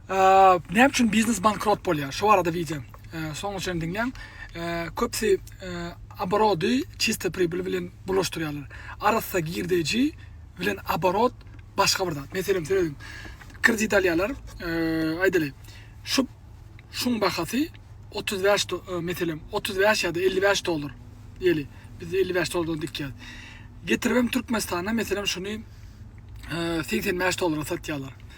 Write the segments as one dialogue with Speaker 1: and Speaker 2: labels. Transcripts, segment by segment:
Speaker 1: Näme üçin biznes bankrot bolýar? Şu barada wideo. Soňuna çenli diňläň. Köpüsi oborody çista pribyl bilen bulaşdyrýarlar. Arassa girdeji bilen oborot başga bir zat. Meselem, söýüň. Kredit alýarlar. Aýdaly, şu şuň bahasy 35 meselem 35 ýa-da 55 dollar. Ýeli, biz 55 dollardan dikýäs. Getiribem Türkmenistana meselem şuny 85 dollara satýarlar.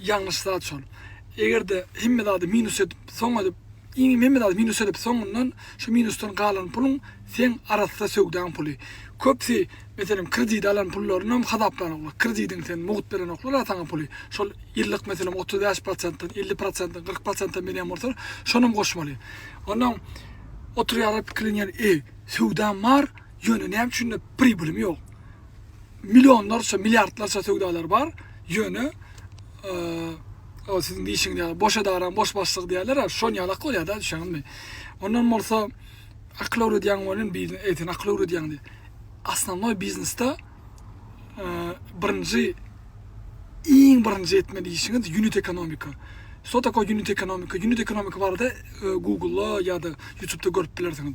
Speaker 1: ýalňyş zat şol. Eger-de hemme zady minus edip, soň edip, iň hemme zady minus edip, soňundan şu minusdan galan puluň seň arassa söwdaň puly. Köpsi, meselem, kredit alan pullaryny hasaplanoklar. Kredidiň sen mugt berenoklar a saňa puly. Şol ýyllyk, meselem, otuz bäş prosentden, elli prosentden, kyrk prosentden berýän bolsa, şonam goşmaly. Onnoň oturýarlar pikirlenýär, e, söwdam bar, ýöne näme üçin-de pribilim ýok? Millionlarça, milliardlarça söwdalar bar, ýöne o siziň diýişiňiz ýaly boş edaraň boş başlygy diýerler-ä, şon ýalak bolýar-da, düşeňizmi? Ondan bolsa akyl öwredýäň welin biznes eýsen akyl öwredýäň diý. Asnownoý biznesde birinji iň birinji etmeli işiňiz unit ekonomika. Что такое unit ekonomika? Unit ekonomika barada Google-da ýa-da YouTube-da görüp bilersiňiz.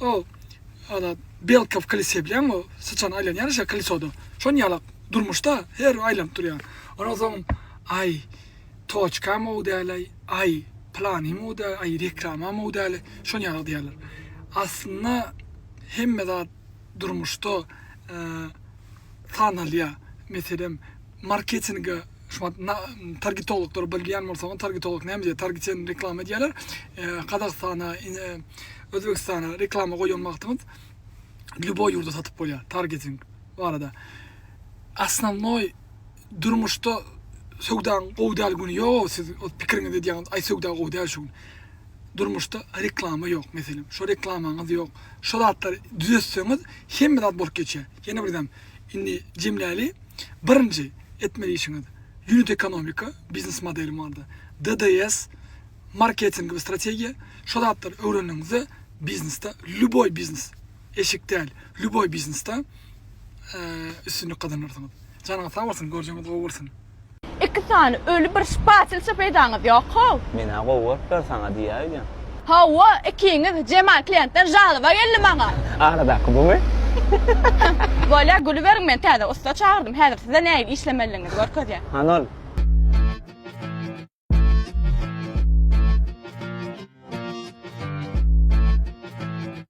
Speaker 1: O ala belkow kolesýa bilýäňmi o syçan aýlanýar şe kolesoda şon ýala durmuşda her bir aýlanyp durýar ondan soň aý toçkam ow dälay aý planym ow däl aý reklamam ow däl şon ýala diýerler aslynda hemme zat durmuşda sanalýar meselem marketinga Şumat na targetologlar bilýän bolsaňyz targetolog näme diýýär? Target sen reklama edýärler. Gazagystana, Özbegistana reklama goýan wagtyňyz lýuboý ýurda satyp bolýar targeting barada. Asnawnoý durmuşda söwdaň gowy däl güni ýok, siz o pikiriňizi edýäňiz, aý söwda gowy däl şu gün. Durmuşda reklama ýok meselem, şo reklamaňyz ýok. Şo zatlary düzetseňiz hemme zat bolup geçýär. Ýene birem indi jemläli. Birinji etmeli işiňiz unit ekonomika, biznes modeli barada, DDS, marketing we strategiýa, şo zatlary öwrendigiňizde biznesde, lýuboý biznes, eşik däl, lýuboý biznesde üstünlik gazanarsyňyz. Janyňyz sag bolsun, görjegiňiz gowy bolsun! Iki sany
Speaker 2: öli bir spasilçe peýdaňyz ýok how. Menä gowy görüpler
Speaker 3: saňa diýýä öýdýän. Hawa
Speaker 2: ikiňiz Jemal kliýentden žalyba geldi maňa. Aradaky bumy? Bolýa gülüberiň men täze ussa çagyrdym häzir size nähili işlemelidigiňizi görkezýän. Hany ol.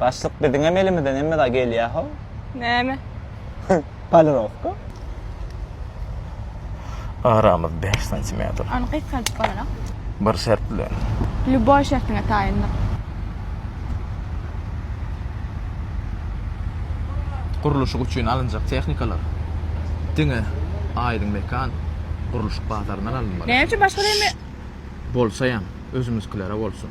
Speaker 3: Başlyk biziňem elimizden hemme zat gelýär how. Näme? Polirowka.
Speaker 4: Aramyz bäş santimetr. Ony gysgaldyp
Speaker 2: bolanok. Bir şert
Speaker 4: bilen. Lýuboý şertiňe
Speaker 2: taýyndyk.
Speaker 4: Gurluşyk üçin alynjak tehnikalar diňe Aýdyň mekan gurluşyk bazaryndan alynmaly. Näme üçin başga deme?
Speaker 2: Bolsaýam
Speaker 4: özümiziklere bolsun.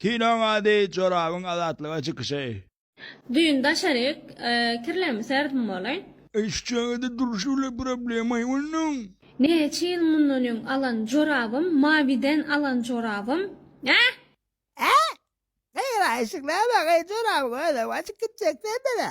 Speaker 5: Kinoň ady,
Speaker 6: jorabyň azatlyga çykyşy. Düýn
Speaker 7: daşaryk kirlerimi serdim bolaý. Eý şu çagada
Speaker 6: durşy bile problemaý onuň. Näçe ýyl
Speaker 7: mundan öň alan jorabym mawiden alan jorabym äh. Äh!
Speaker 8: Eý raýşyk näme geý jorabyň özem açyk gitjek sende-de.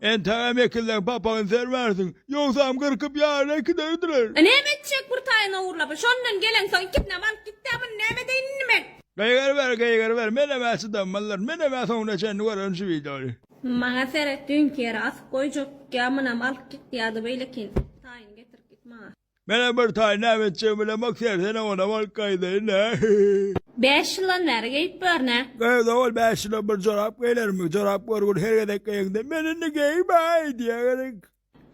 Speaker 7: Entägem ekilseň
Speaker 6: papagyny sermersiň, ýogsam gyrkyp ýaryna giderdiler. E näme etjek bir
Speaker 7: taýyny ogurlap, şondan geleňsoň ikisinem alyp gitdi-ä muny näme edeýin indi men? Gygyryber,
Speaker 6: gygyryber, menem-ä çydammylar, menem-ä soňuna çenli görerin şu wideony. Maňa seret,
Speaker 7: düýnki ýere asyp goýjak, ýa munam alyp gitdi ýa-da beýlekin, taýyny getirip git maňa. Menä bir taý
Speaker 6: näme etjegimi bilemok sen senem onam alyp gaýdaýyn nä. Bäş
Speaker 7: ýyldan bäri geýip görne. Gyz ogul bäş
Speaker 6: ýylda bir jorap geýlermi jorap görgün her gezek geýeňde men indi geýmäý diýeňerik.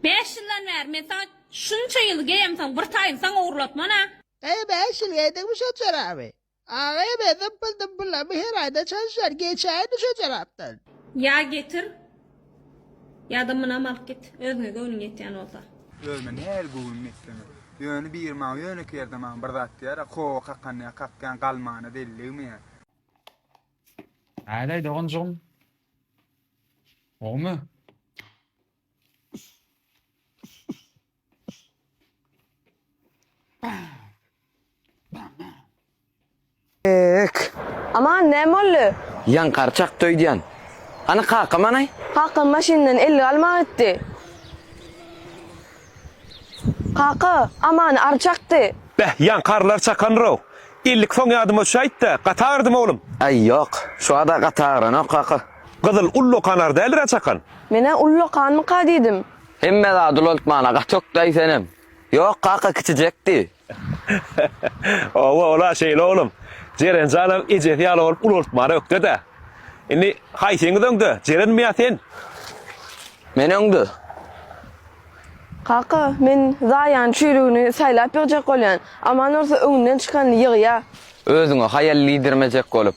Speaker 6: Bäş ýyldan
Speaker 7: bäri men saňa şunça ýyl geýemsoň bir taýyny saňa ugurlatman a. Gaýgy bäş ýyl
Speaker 8: geýdiňmi şo joraby. Aga ebe zympyl zympyllamy her aýda çalyşýar geçäýin düşe tarapdan. Ýa getir
Speaker 7: ýada mynam alyp git özüňe göwnüň ýetýän bolsa. Özüme nähili
Speaker 9: göwünüm ýetseňem. Ýöne biri maňa ýönekeý ýerde maňa bir zat diýer-ä, Kowa kakanda kakýan galmana deliligmi ýa?
Speaker 10: Hälaý doganjygym. Gowmy?
Speaker 2: Aman, näme boldy? Ýan garçak
Speaker 3: döýdýän. Hany kaka manaý? Kakam maşyndan
Speaker 2: ellik alma gitdi. Kaka, Amany ary çakdy. Beh, ýan karylar
Speaker 11: çakandyr-ow. Ellik soň ýadyma düşäýt-de, gaty agyrdymy oglum? Äý, ýok. Şu
Speaker 3: wada gaty agyranok, kaka. Gyzyl ullakan
Speaker 11: ary däldir-ä çakan? Men-ä ullakanmyka
Speaker 2: diýdim. Hemme zat
Speaker 3: ulaltmana gaty okdaý senem. Ýok kaka kiçijek diý. Oba
Speaker 11: ola şeýle oglum. Jeren janam ejesi ýaly bolup ulaltmana ökde-dä. Indi haýsyňyz öňde Jerenmi ýa sen?
Speaker 3: Men öňde. Kaka
Speaker 2: men Zaýany çüýrügini saýlap ýygjak bolýan. Aman bolsa öňünden çykanyny ýygýa. Özüňe haýal
Speaker 3: diýdirmejek bolup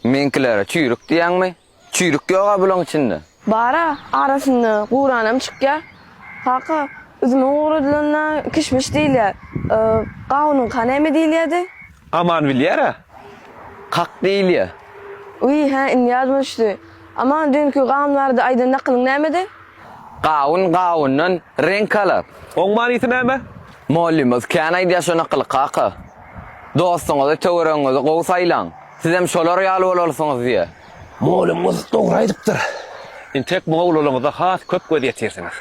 Speaker 3: meňkilere çüýrük diýýäňmi? Çüýrük ýog-a bulaň içinde. Bar-a,
Speaker 2: arasynda guranam çykýar. Kaka, üzümiň guradylanynda kişmiş diýilýär. Gawunyňka näme diýilýärdi? Aman bilýär-ä.
Speaker 11: Kak
Speaker 3: diýilýär. Wiý, hä,
Speaker 2: indi ýadyma düşdi. Aman, düýnki gawun barada aýdan nakylyň nämedi? Gawun
Speaker 3: gawundan reňk alar. Oň manysy näme?
Speaker 11: Mollymyz
Speaker 3: kän aýdýar şo nakyly, kaka. Dostuňyzy, töweregiňizi gowy saýlaň. Sizem şolar ýaly bolalsyňyz diýe.
Speaker 11: Molymyz dogry aýdypdyr.
Speaker 3: Intek
Speaker 11: mowlalyňyza has köp göz ýetirsiňiz.